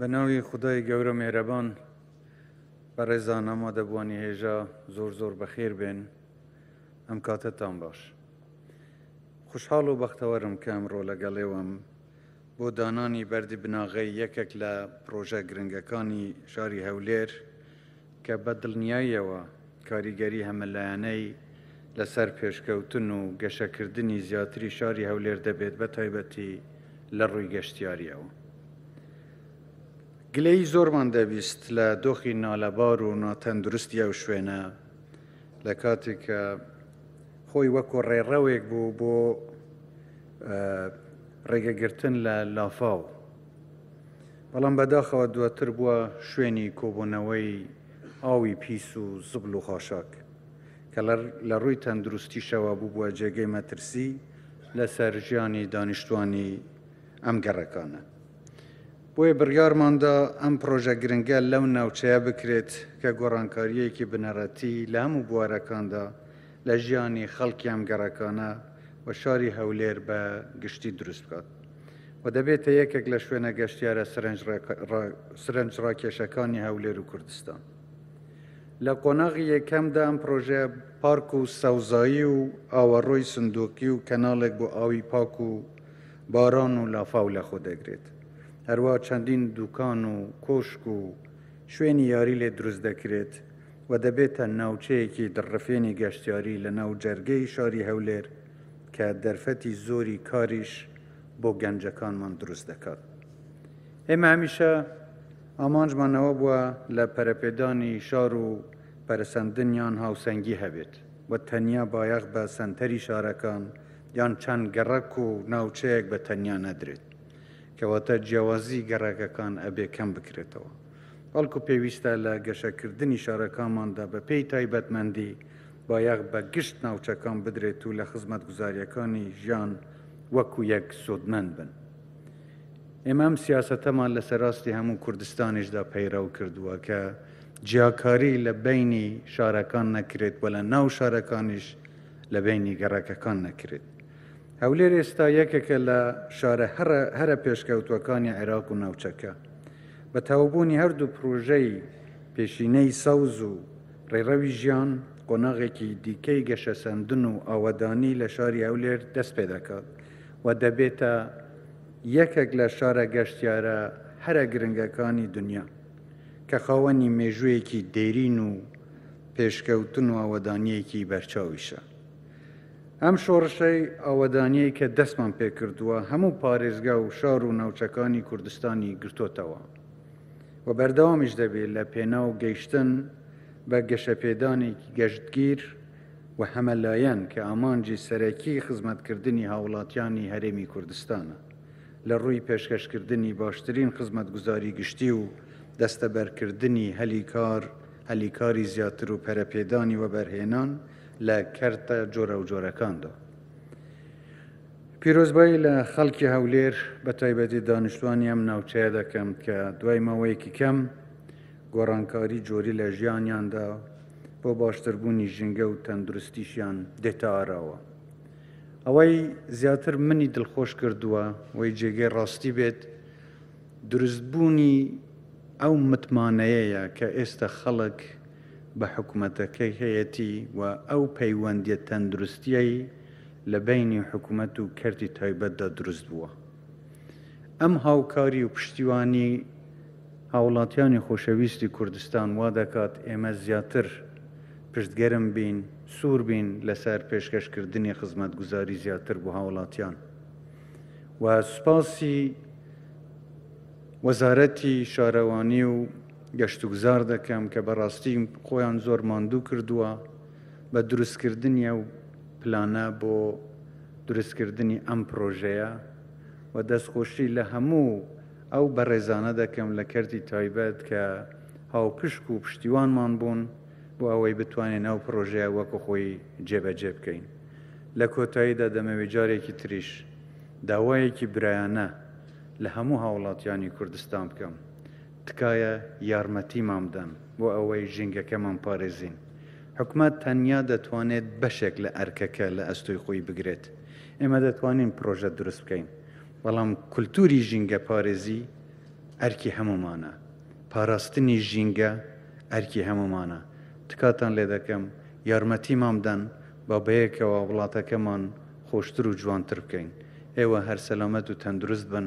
بە ناوی خدای گەورە مێرەبان بە ڕێزا نەما دەبووانی هێژا زۆر زۆر بەخێر بێن ئەم کاتەتان باش خوشحاڵ و بەختەوەرم کە ئەمڕۆ لەگەڵێوەم بۆ دانانی بەردی بناغەی یەکێک لە پرۆژە گرنگەکانی شاری هەولێر کە بە دڵنیاییەوە کاریگەری هەمەلایەنەی لەسەر پێشکەوتن و گەشەکردنی زیاتری شاری هەولێر دەبێت بە تایبەتی لە ڕووی گەشتیارییەوە. گلەیی زۆرمان دەبیست لە دۆخی نالەبار و ناتەندروستی ئەو شوێنە لە کاتێک کە خۆی وەکو ڕێڕەوێک بوو بۆ ڕێگەگرتن لە لافاو. بەڵام بەداخەوە دواتر بووە شوێنی کۆبوونەوەی ئاوی پیس و زبل و خاشاک کە لە ڕووی تەندروستیشەوە بووە جێگەی مەترسی لەسەر ژیانی دانیشتوانی ئەم گەڕەکانە بۆیە بڕیارماندا ئەم پرۆژە گرنگە لەو ناوچەیە بکرێت کە گۆڕانکاریەکی بنەڕەتی لە هەموو بوارەکاندا لە ژیانی خەڵکی ئەم گەڕەکانە و شاری هەولێر بە گشتی دروست بکات و دەبێتە یەکێک لە شوێنە گەشتیارە سرنجڕاکێشەکانی هەولێر و کوردستان. لە قۆناغی یەکەمدا ئەم پرۆژەیە پارک و سەوزایی و ئاوەڕۆی سندوقی و کەناڵێک بۆ ئاوی پاک و باران و لافاو لەخۆ دەگرێت. هەروە چەندین دوکان و کۆشک و شوێنی یاری لێ دروست دەکرێت و دەبێتە ناوچەیەکی دڕفێنی گەشتیاری لەناو جەرگەی شاری هەولێر، کە دەرفەتی زۆری کاریش بۆ گەنجەکانمان دروست دەکات ئێمە هەمیشە ئامانجمان ئەوە بووە لە پەرەپێدانی شار و پەرسەندنیان هاوسەنگی هەبێت و تەنیا بایەخ بە سەنتەری شارەکان یان چەند گەڕەک و ناوچەیەک بە تەنیا نەدرێت کەواتە جیاوازی گەڕەکەکان ئەبێ کەم بکرێتەوە بەڵکو پێویستە لە گەشەکردنی شارەکانماندا بە پێی تایبەتمەندی بایەخ بە گشت ناوچەکان بدرێت و لە خزمەتگوزاریەکانی ژیان وەکو یەک سوودمەند بن. ئێمە ئەم سیاسەتەمان لە سەراستی هەموو کوردستانیشدا پەیڕەو کردووە کە جیاکاری لە بینی شارەکان نەکرێت و لە ناو شارەکانیش لە بینی گەڕەکەکان نەکرێت. هەولێر ئێستا یەکێکە لە شارە هەرە پێشکەوتوەکانی عێراق و ناوچەکە. بە تەواوبوونی هەردوو پڕۆژەی پێشینەی سەوز و ڕێڕەوی ژیان قۆناغێکی دیکەی گەشەسەندن و ئاوەدانی لە شاری هەولێر دەست پێ دەکات و دەبێتە یەکێک لە شارە گەشتیارە هەرە گرنگەکانی دنیا کە خاوەنی مێژوویەکی دێرین و پێشکەوتن و ئاوەدانیەکی بەرچاویشە. ئەم شۆڕشەی ئاوەدانیەی کە دەستمان پێکردووە هەموو پارێزگا و شار و ناوچەکانی کوردستانی گرتۆتەوە. و بەردەوامیش دەبێت لە پێناو گەیشتن بە گەشەپێدانێکی گەشتگیر و هەمەلایەن کە ئامانجی سەرەکی خزمەتکردنی هاوڵاتیانی هەرێمی کوردستانە لە ڕووی پێشکەشکردنی باشترین خزمەتگوزاری گشتی و دەستەبەرکردنی هەلی کار هەلی کاری زیاتر و پەرەپێدانی وەبەرهێنان لە کەرتە جۆرەوجۆرەکاندا. پیرۆزبایی لە خەڵکی هەولێر بە تایبەتی دانیشتوانی ئەم ناوچەیە دەکەم کە دوای ماوەیەکی کەم گۆڕانکاری جۆری لە ژیانیاندا بۆ باشتربوونی ژینگە و تەندروستیشیان دێتە ئاراوە ئەوەی زیاتر منی دڵخۆش کردووە وەی جێگەی ڕاستی بێت دروستبوونی ئەو متمانەیەیە کە ئێستا خەڵک بە حکوومەتەکەی هەیەتی و ئەو پەیوەندیە تەندروستیەی لە بەینی حکومەت و کەرتی تایبەتدا دروست بووە. ئەم هاوکاری و پشتیوانی هاوڵاتیانی خۆشەویستی کوردستان وا دەکات ئێمە زیاتر پشتگەرم بین، سوور بین لەسەر پێشکەشکردنی خزمەتگوزاری زیاتر بۆ هاوڵاتیان و سوپاسی وەزارەتی شارەوانی و گەشتوگوزار دەکەم کە بەڕاستی خۆیان زۆر ماندوو کردووە. بە دروستکردنی ئەو پلانە بۆ دروستکردنی ئەم پرۆژەیە و دەستخۆشی لە هەموو ئەو بەڕێزانە دەکەم لە کەرتی تایبەت کە هاوپشک و پشتیوانمان بوون بۆ ئەوەی بتوانین ئەو پرۆژەیە وەکو خۆی جێبەجێ بکەین لە کۆتاییدا دەمەوێت جارێکی تریش داوایەکی برایانە لە هەموو هاوڵاتیانی کوردستان بکەم تکایە یارمەتیمان بدەن بۆ ئەوەی ژینگەکەمان بپارێزین. حکومەت تەنیا دەتوانێت بەشێک لە ئەرکەکە لە ئەستۆی خۆی بگرێت. ئێمە دەتوانین پڕۆژە دروست بکەین، بەڵام کولتووری ژینگەپارێزی ئەرکی هەموومانە. پاراستنی ژینگە ئەرکی هەموومانە. تکاتان لێ دەکەم یارمەتیمان بدەن با بەیەکەوە وڵاتەکەمان خۆشتر و جوانتر بکەین. ئێوە هەر سەلامەت و تەندروست بن.